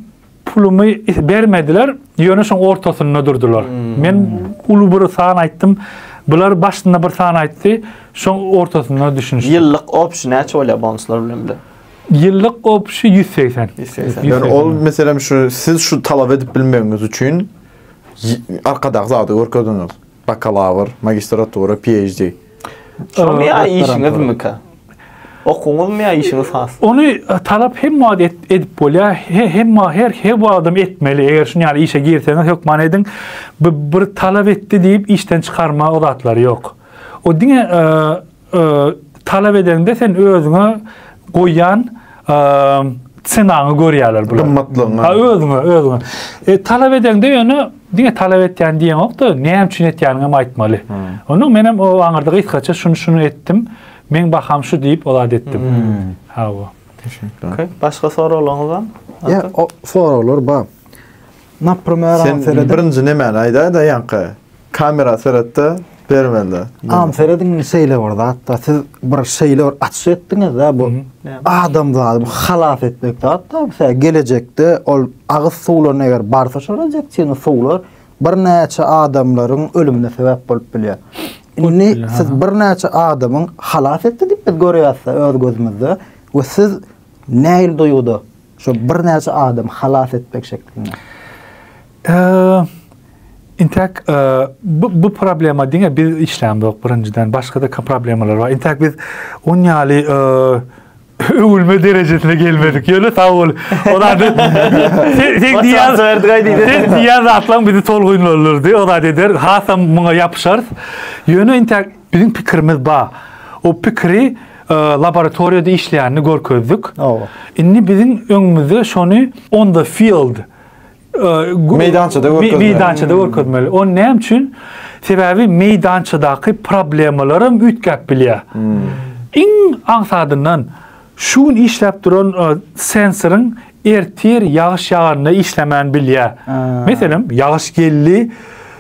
pulumy bermediler. Ýöne şoň ortasynda durdular. Hmm. Men uly bir san aýtdym. Bular başynda bir san aýtdy. Şoň ortasynda düşünişdi. Ýyllyk opsiýa näçe bolýar bonuslar bilen bile? Ýyllyk gopuşy ýüz segsen. Ýüz segsen. Ýöne ol meselem şu siz şu talap edip bilmegiňiz üçin arkadaky zady görkezdiňiz. Bakalawr, magistratura, PHD. Şoňa ýa işiňizmika? Okuwyňyzmy ýa işiňiz has? Ony talap hemme wagt edip bolýar. Hemme her her wagtam etmeli. Eger şuny ýaly işe girseňiz hökman ediň. Bir talap etdi diýip işden çykarma o zatlary ýok. O diňe talap edende sen özüňe goýýan senaňy görýärler bular. Gymmatlygyňy. Ha özüňe, özüňe. E, talap edende ýöne diňe talap etýän diýeňokda, näme üçin etýäniňi hem aýtmaly. Hmm. Onda men hem o aňyrda gysgaça şuny şuny etdim. Men baham şu diýip o zat etdim. Hmm. Ha bu. Okay. Başga soraglaryňyz barmy? Ýa, soraglar bar. Naprimer, Sen seredin. birinji nemäni aýdaýda ýaňky kamera seretde bermelde. Am seredin şeýle bir zatda siz bir şeýle bir açyş etdiňizde bu adam zady bu halas etmek zatda bu gelejekde ol agyz suwlaryny eger barsa şol injeksion suwlar birnäçe adamlaryň ölümine sebäp bolup bilýär. Indi siz birnäçe adamyň halas etdi diýip biz görýäs öz gözümizde we siz näil duýguda Şo birnäçe adam halas etmek şeklinde. Intäk bu bu problema diňe biz işlämzok birinjiden, başga-da problemalar bar. Intäk biz on ýaly öwülme derejesine gelmedik. Ýöne sag bol. Olar da sen diýýän zerdik aýdyň. Sen diýýän zatlaň bizi tolgunlandyrdy. Olar eder, hasam muňa ýapyşarys. Ýöne intäk Biziň pikirimiz ba. O pikiri laboratoriýada işleýänini görkezdik. Owa. Indi biziň öňümizde şony on the field meýdançada görkezmeli. Meýdançada görkezmeli. O näme üçin? Sebäbi meýdançadaky problemalaram üýtgäp bilýär. Iň aňsadyndan Şu gün işläp duran sensoryň ertir ýagyş ýaganda işlemän bilýär. Meselem, ýagyş geldi,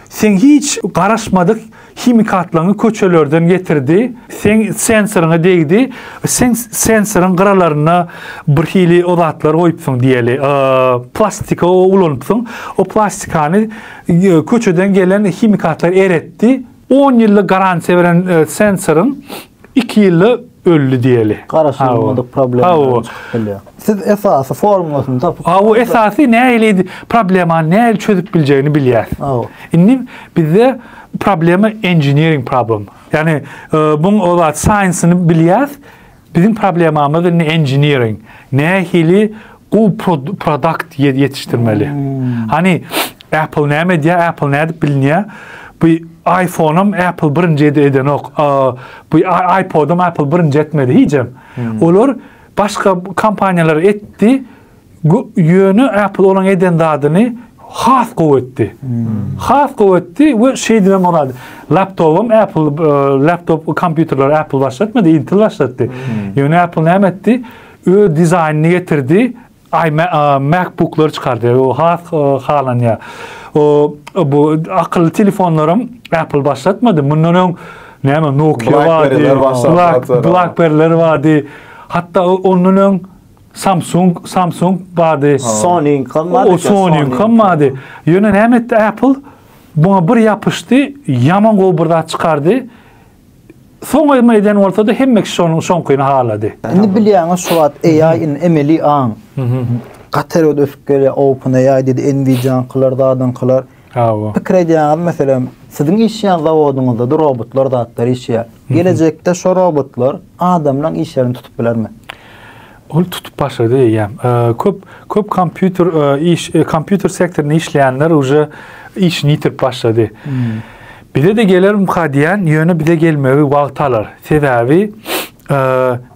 seň hiç garaşmadyk himikatlaryňy köçelerden getirdi, seň sensoryňa degdi, seň sensoryň gyralaryna bir hili o zatlar goýupsyň diýeli, plastika ulanypsyň, o plastikany köçeden gelen himikatlar eretdi, on ýyllyk garantiýa beren sensoryň Iki ýylda öldi diýeli. Garaş Hawa. bolmadyk problema Hawa. gelip çykyp bilýär. Siz esasy formulasyny tapyp Ha o esasy nähili problemany nähili çözüp biljegini bilýär. Hawa. Indi bizde problema engineering problem. Ýagny e, buň o zat science-ni bilýäs. Biziň problemamyz indi engineering. Nähili Gu produkt ýetişdirmeli. Hani Apple näme edýär? Apple nädip bilinýär? Bu iPhone-am Apple birinji edenok. Bu iPod-am Apple birinji etmedi hijem. Hmm. Olar başga kompaniýalar etdi. Ýöne Apple olaň eden zadyny has gowy etdi. Hmm. Has gowy etdi we şeýdip hem bolady. Laptopum Apple e, laptop kompýuterler Apple başlatmady, Intel başlatdy. Hmm. Ýöne Apple näme etdi? Öz dizaýnyny getirdi, MacBook'lary çykardy, o has halanýar. O bu akylly telefonlaram Apple başlatmady, mundan öň näme Nokia bardy, BlackBerry'ler bardy. Hatda ondan öň Samsung, Samsung bardy. Sony-yňkam bardy. O Sony-yňkam bardy. Ýöne näme etdi Apple? Buna bir ýapyşdy, ýaman gowy bir zat çykardy. Soňaýma eden bolsa-da hemme kişi şonuň şoňkyny halady. Indi bilýäňiz şu wagt AI in emeli aň. Gaty erbet ösüp gelýär OpenAI diýdi, Nvidia-nykylar, zadyňkylar. Hawa. Pikir edýäňiz meselem, siziň işleýän zawodyňyzda-da robotlar zatlar işleýär. Gelejekde şo robotlar adamlaň işlerini tutup bilermi? Ol tutup başlady eýýäm. Köp köp kompýuter iş kompýuter sektorynda işleýänler uje işini ýitirip başlady. Bize-de gelermika diýän, ýöne bize gelmegi wagt alar. Sebäbi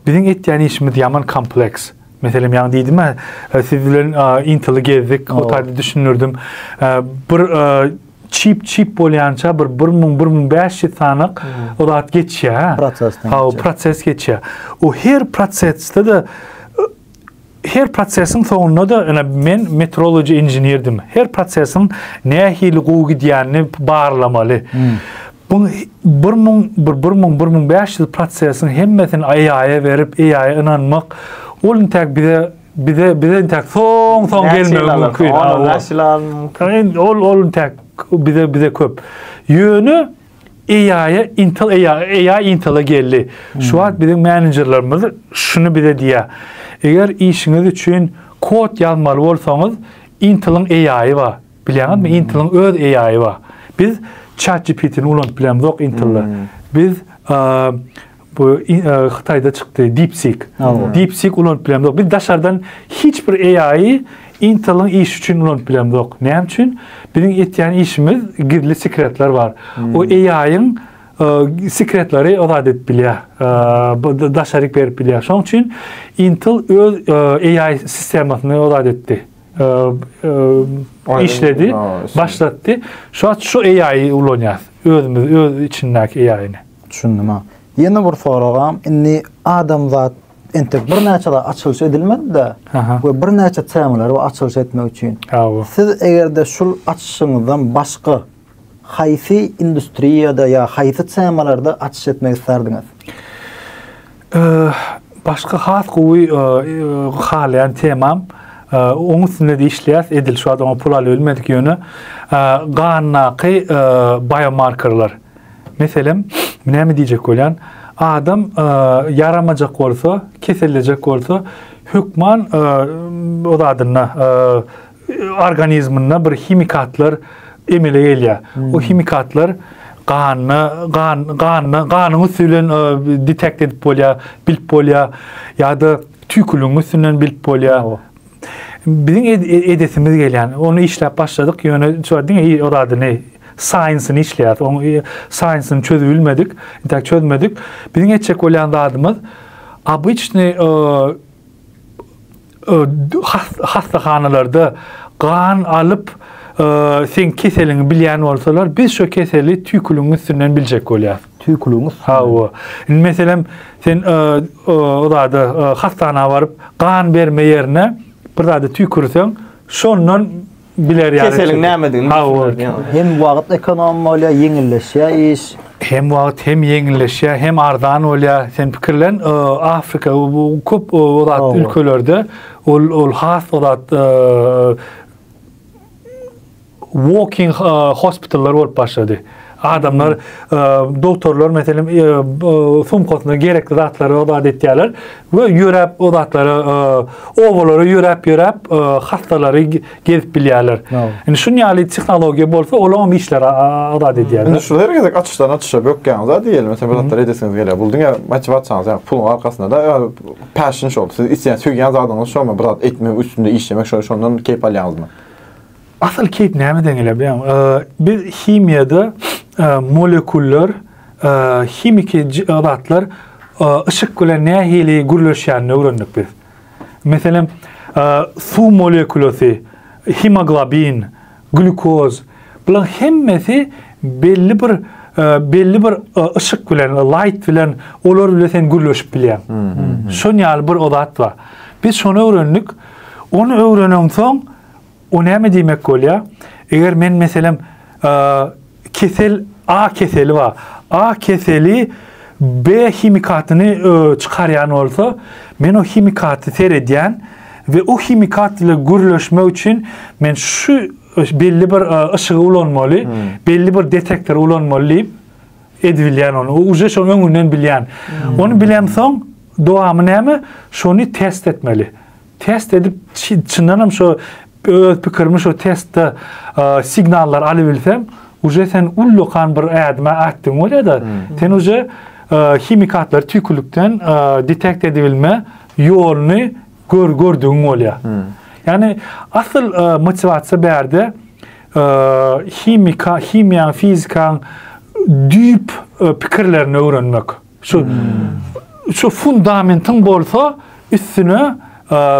biziň etýän işimiz ýaman kompleks. Meselem, ýaňy diýdim-ä, siz bilen Intel-i gezdik, o taýda düşündirdim. Bir çip çip bolýança bir bir müň bir müň bäş ýüz sanak o zat geçýär ha prosesden ha o proses geçýär o her prosesde de her prosesiň soňunda da ene men metrology inženerdim her prosesiň nähili gowy gidýänini barlamaly hmm. bu bir müň bir bir müň bir müň bäş ýüz prosesiň hemmesini aýaýa berip aýaýa ynanmak ol intäk bize Bize bize entek soň soň gelmegi mümkin. Onu näçe alyp mümkin? Ol ol entek bize bize köp. Ýöne AI Intel AI AI Intel geldi. Şu hmm. wagt biziň menejerlerimiz şuny bize diýýär. Eger işiňiz üçin kod ýazmaly bolsaňyz, Intel-iň AI-y bar. Bilýäňizmi? Hmm. Intel-iň öz AI-y bar. Biz ChatGPT-ni ulanyp bilemizok Intel-de. Hmm. Biz Bu Hytaýda çykdy DeepSeek. DeepSeek ulanyp bilemzok. Biz daşardan hiç bir AI-y Intel-iň işi üçin ulanyp bilemzok. Näme üçin? Biziň etýän işimiz gizli sekretler bar. O AI-yň sekretleri azat edip bilýär. Bu daşaryk berip bilýär. Şoň üçin Intel öz AI sistemasyny azat etdi. işledi, başlatdy. Şu şu AI-y ulanýarys. Özümiz öz içindäki AI-ny. Düşündim ha. Ýene bir soragam, indi adamzat entek birnäçe zat açylyş edilmedi-de we birnäçe temalary açylyş etmek üçin. Siz eger-de şul açyşyňyzdan başga haýsy industriýada ýa haýsy temalarda açyş etmek islerdiňiz? Başga has gowy halaýan temam, oň üstünde-de işleýäs, edil şu wagt oňa pul alybilmedik ýöne gandaky biomarkerler. Meselem, näme diýjek bolýan? Adam ýaramajak bolsa, kesellejek bolsa, hökman o zadynda organizminde bir himikatlar emele gelýär. Hmm. O himikatlar ganyna, gan, ganyna, ganyň üstü bilen detekt edip bolýar, bilip bolýar ýa-da tüýküligiň üstünden bilip bolýar. Biziň edesimiz gelýän. Ony işläp başladyk, ýöne şo diňe o zadyny saýensyny işleýäs. Oň saýensyny çözüp bilmedik, intäk çözmedik. Biziň etjek bolýan zadymyz obyçny hassahanalarda gan alyp sen keseliňi bilýän bolsalar, biz şo keseli tüýküligiň üstünden biljek bolýas. Tüýküligiň üstünden. Hawa. Indi meselem, sen o zady hassana baryp, gan berme ýerine bir zady tüýkürseň, şondan biler ýaly. Keseliň nämedigini düşünersiň. Hem wagt ekonom bolýar, ýeňilleşýär iş. Hem wagt, hem ýeňilleşýär, hem arzan bolýar. Sen pikirlen, Afrika bu köp o zat ülkelerde ol has o zat walking hospitallar bolup başlady. Adamlar doktorlar meselem sumkasyna gerekli zatlary adat etýärler we ýöräp o zatlary obalara ýöräp ýöräp hastalary gezip bilýärler. Indi şun ýaly tehnologiýa bolsa olam işleri adat edýär. Indi şu her gezek açyşdan açyşa bökýäňiz da diýeli meselem bir zatlar edesiňiz gelýär. Bul diňe motiwasiýaňyz ýa puluň arkasynda da passion şol. Siz isleýän söýýän zadyňyz şomy bir zat etmek üstünde işlemek şondan keýp alýaňyzmy? Asyl keýp näme deňele bilen? Biz himiýada molekullar, himiki zatlar yşyk bilen nähili gürleşýänini öwrendik biz. Meselem, suw molekulasy, hemoglobin, glýukoz, bularyň hemmesi belli bir belli bir yşyk bilen, light bilen olar bilen sen gürleşip bilýäň. Şoň ýaly bir zat bar. Biz şony öwrendik. Ony öwrenensoň, O näme diýmek bolýar? Eger men meselem kesel A keseli bar. A keseli B himikatyny çykarýan bolsa, men o himikaty seredýän we o himikat ile gürleşmek üçin men şu belli bir yşygy ulanmaly, hmm. belli bir detektory ulanmaly diýip edibilýän onu. Uje şonuň öňünden bilýän. Hmm. Onu bilemsoň dowamy näme? Şony test etmeli. Test edip çyndanam şo öz pikirimi şo testde signallar alybilsem, uje sen ullakan bir ädme atdyň bolýada. Hmm. Sen uje himikatlary tüýkülikden detekt edibilme ýoluny gör gördügiň bolýar. Hmm. Ýani asyl motiwasiýa bärde himika, himiýa, fizika düýp pikirlerini öwrenmek. Şu şu fundamentin bolsa üstüne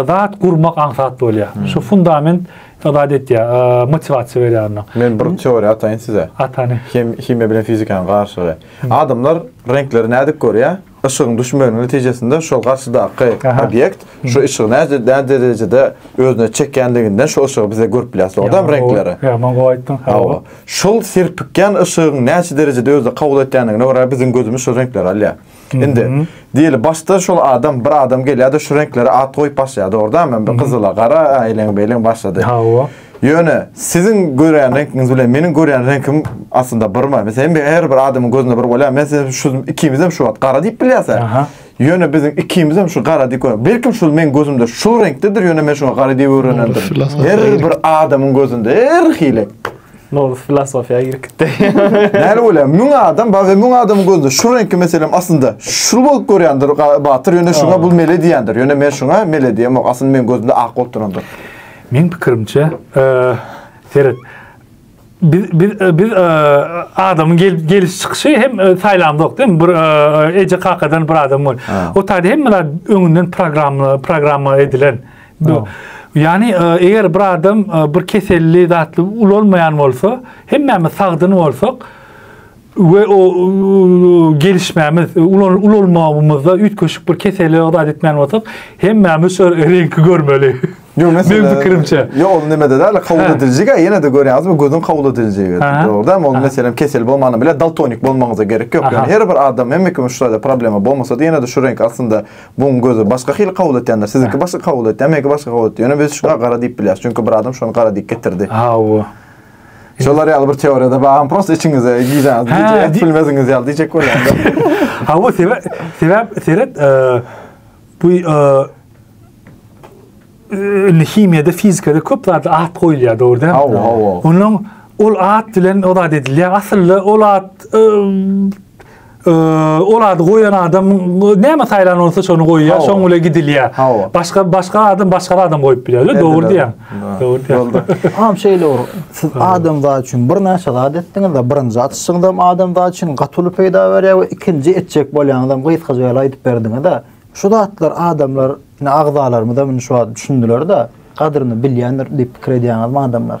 zat gurmak aňsat bolýar. Hmm. Şu fundament zat etýär, motivasiýa berýär onda. Men bir teoriýa ataýyn size. Atany. Hem himiýa bilen fizikanyň garşylygy. Hmm. Adamlar reňkleri nädip görýär? Işigiň düşmeginiň netijesinde şol garşydaky obýekt hmm. şu işigi näde derejede özüne çekýänliginden şu işigi bize görüp bilýär. Soňam reňkleri. Ýa, men goýdum. Hawa. Şol serpikýän yşygyň näçe derejede özde kabul etýändigine görä biziň gözümiz şol reňkleri alýar. Indi diýeli başda şol adam bir adam gelýärdi şu reňklere at goýup başlaýardy dogurdamy? Bir gyzyla gara eýleň beýleň başlady. Hawa. Ýöne siziň görýän reňkiňiz bilen meniň görýän reňkim aslynda birmi? Meselem her bir adamyň gözünde bir bolýar. Men size şu ikimizem şu wagt gara diýip bilýärse. Aha. Ýöne biziň ikimizem şu gara diýip görüň. Belkim şul meň gözümde şul reňkdedir, ýöne men şuňa gara diýip öwrenendirin. Her bir adamyň gözünde her hili. Nowruz filosofiýa girip gitdi. Näle bolýar? Müň adam, baý müň adamyň gözünde şu reňki meselem aslynda şul bolup görýändir Batyr, ýöne şuňa bul mele diýýändir. Ýöne men şuňa mele diýemok. Aslynda meň gözümde ak bolup durandyr. Meň pikirimçe, seret. biz biz e, biz e, adamyň gel, geliş çykyşy hem e, saýlandyk diýip bir e, eje kakadan bir adam bol. O taýda hemmeler öňünden programma programma edilen. Bu Yani e, eger bir adam e, bir keselli zatly ulanmayan olsa, hemmemiz sagdyn olsak, we o gelişmämiz, ulalmamamyzda üýtgeşik bir keseli adat etmän bolsak, hemmämiz şu reňki görmeli. Ýok, meselem, meniň pikirimçe. Ýok, ol näme-de däl, kabul ediljige, ýene de görýäňizmi, gözüň kabul ediljigi. Dogrudan, ol meselem kesel bolmany bilen daltonik bolmagyňyza gerek ýok. Ýöne her bir adam, hemme kimiň şu taýda problema bolmasa-da, ýene de şu reňki aslynda buň gözi başga hili kabul etýändir. Siziňki başga kabul etýär, meniňki başga kabul etýär. Ýöne biz şuňa gara diýip bilýäris, çünki bir adam şony gara diýip getirdi. Hawa. Şolar ýaly bir teoriýada bagam prosta içiňize gijaňyz gije ýatyp bilmeziňiz ýaly diýjek bolýan. Ha bu sebäp sebäp seret e, bu e, e, himiýada, fizikada köp zatda at goýulýar, dogry däl? Hawa, hawa. Onuň ol at bilen o zat edilýär. Aslynda ol at e, ol ady goýan adam näme saýlan bolsa şony goýýar, şoň bilen gidilýär. Başga başga adam başga adam goýup bilýär. Dogry diýýän. Dogry diýýän. Ham şeýle ur. Siz adam zat üçin bir näçe zat etdiňiz we birinji atyşyňyz hem adam zat üçin gatyly peýda berýär we ikinji etjek bolýanyňyz hem gysgaça ýaly aýdyp berdiňiz de. Şu zatlar adamlar, ine agzalarymyz hem şu wagt düşündiler-de, gadryny bilýändir diýip pikir edýäňizmi adamlar?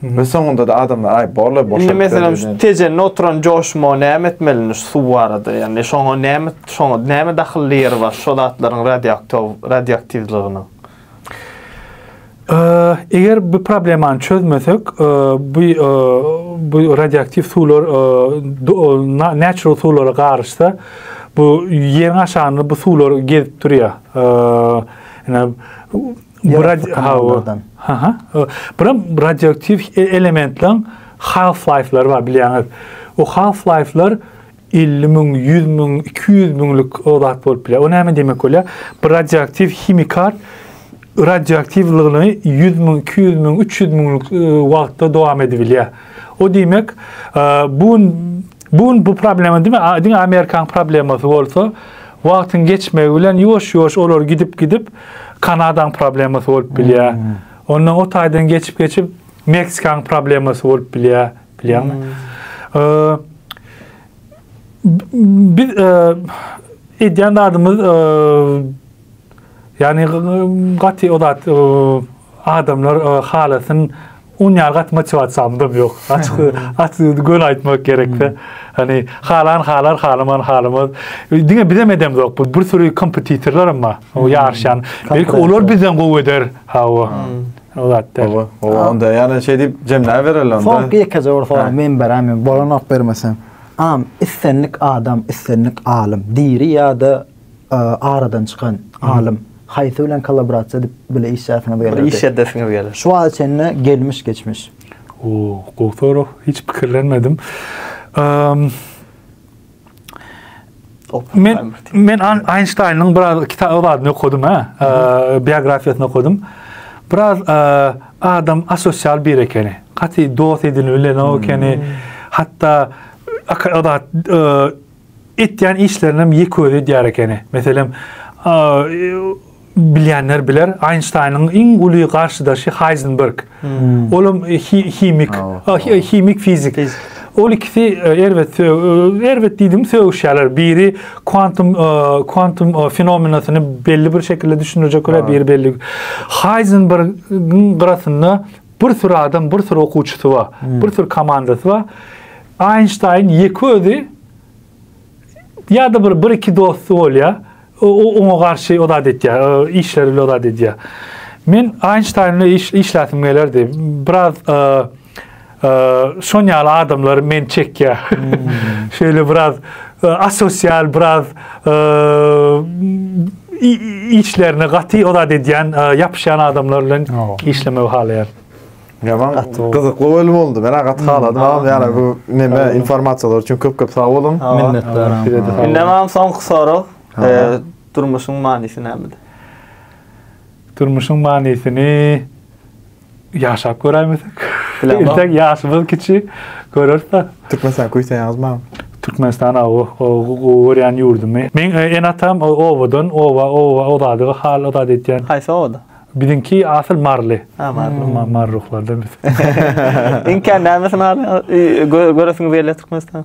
We soňunda-da adamlar aý borlar boşalyp. Indi meselem şu tejende oturan joşma näme etmeli indi şu suw barada ýagny şoňa näme şoňa näme dahylly ýeri bar şo zatlaryň radioaktow radioaktiwliginiň. Eger bu problemany çözmesek, bu bu radioaktiw suwlar natural suwlara garyşsa, bu ýeriň aşagynda bu suwlar gezip durýar. Ene Ýerasty kanallardan. Aha. Buram radioaktiw e-, elementleriň half-life-lary bar bilýäňiz. O half-life-lar 50 müň, 100 müň, 200 müňlük o zat bolup bilýär. O näme diýmek bolýar? Bir radioaktiw himikal radioaktiwligini 100 müň, 200 müň, 300 müňlük e, wagtda dowam edip bilýär. O diýmek, e, bu Bu gün bu problema diňe diňe Amerikanyň problemasy bolsa, wagtyň geçmegi bilen ýuwaş-ýuwaş olar gidip-gidip Kanadaň problemasy bolup bilýär. Hmm. Ondan o taýdan geçip-geçip Meksikanyň problemasy bolup bilýär, bilýärmi? Hmm. Biz e, edýän zadymyz e, Ýagny gaty o zat adamlar halasyn un ýaly gaty motiwasiýamydam ýok. Açyk açyk göni aýtmak gerekse. Hani halan halar, halaman halamaz. Diňe bizem edemzok. Bu bir sürü kompetitorlar hem bar. O ýaryşýan. Belki olar bizden gowy eder. Hawa. O zat däl. Oba onda ýa-da şeý diýip jemläp bererler onda. Soňky ýekeje bir soraw men beräýmän. Bolanok bermeseň. Am islendik adam, islendik alym diri ýa-da aradan çykan alym haýsy bilen kollaborasiýa edip bile işlesiňiz geldi? Bir iş edesiňiz geldi. Şu wagta çenli gelmiş geçmiş. O, gowy sorag. Hiç pikirlenmedim. Men men Einstein-iň biraz kitap ozadyny okudum ha. Biografiýasyny okudum. Biraz adam asosial bir ekeni. Gaty dost edinip bilen o ekeni. Hatta akat Etýän işlerinem ýeközi edýär ekeni. Meselem, bilýänler biler, Einsteiniň iň uly garşydaşy Heisenberg. Olam himik, himik fizik. Ol ikisi erbet, erbet diýdim, sögüşýärler. Biri kwantum, kwantum fenomenasyny belli bir şekilde düşündirjek biri belli. Heisenbergiň gyrasynda Bir sürü adam, bir sürü okuwçysy bar, hmm. bir sürü komandasy bar. Einstein ýeke özi ya da bir bir iki dosty bolýar. O oňa garşy odat edýär, e, işleri bilen odat edýär. Men Einstein bilen iş işläsim gelerdi. Biraz e, e, şon ýaly adamlary men çekýär. Hmm. Şöyle biraz asosial biraz işlerine gaty o zat edýän, ýapyşýan adamlar bilen işlemegi halaýaryn. Ýaman gyzykly bölüm boldy. Men agat haladym. Hamam ýara bu neme informasiýalar üçin köp-köp sag boluň. Minnetdar. Indi mam soňky sorag. Durmuşyň manysy nämede? Durmuşyň manysyny Ýaşap göräýmesek. Entek ýaşymyz kiçi, göreris-de. Türkmenistany küýseýäňiz mam? Türkmenistan aw, gowy görýän ýurdumy. Meň ene-atam obadan, oba, oba, o zady, o hal, o zady edýän. Haýsy obada? Biziňki asyl Marly. Ha, Marly. Marly ruhlardan biz. Iňkän nämesini göresiňiz gelýär Türkmenistanyň?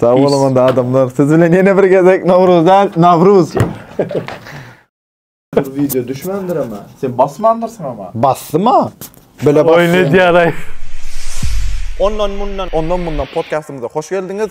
Sag boluň onda adamlar. Siz bilen ýene bir gezek Nowruz däl, Nawruz. Bu video düşmändir ama. Sen basmandyrsyň ama. Basdyma. Bile bas. Oýun edýäraý. Ondan mundan. Ondan mundan podkastymyza hoş geldiňiz.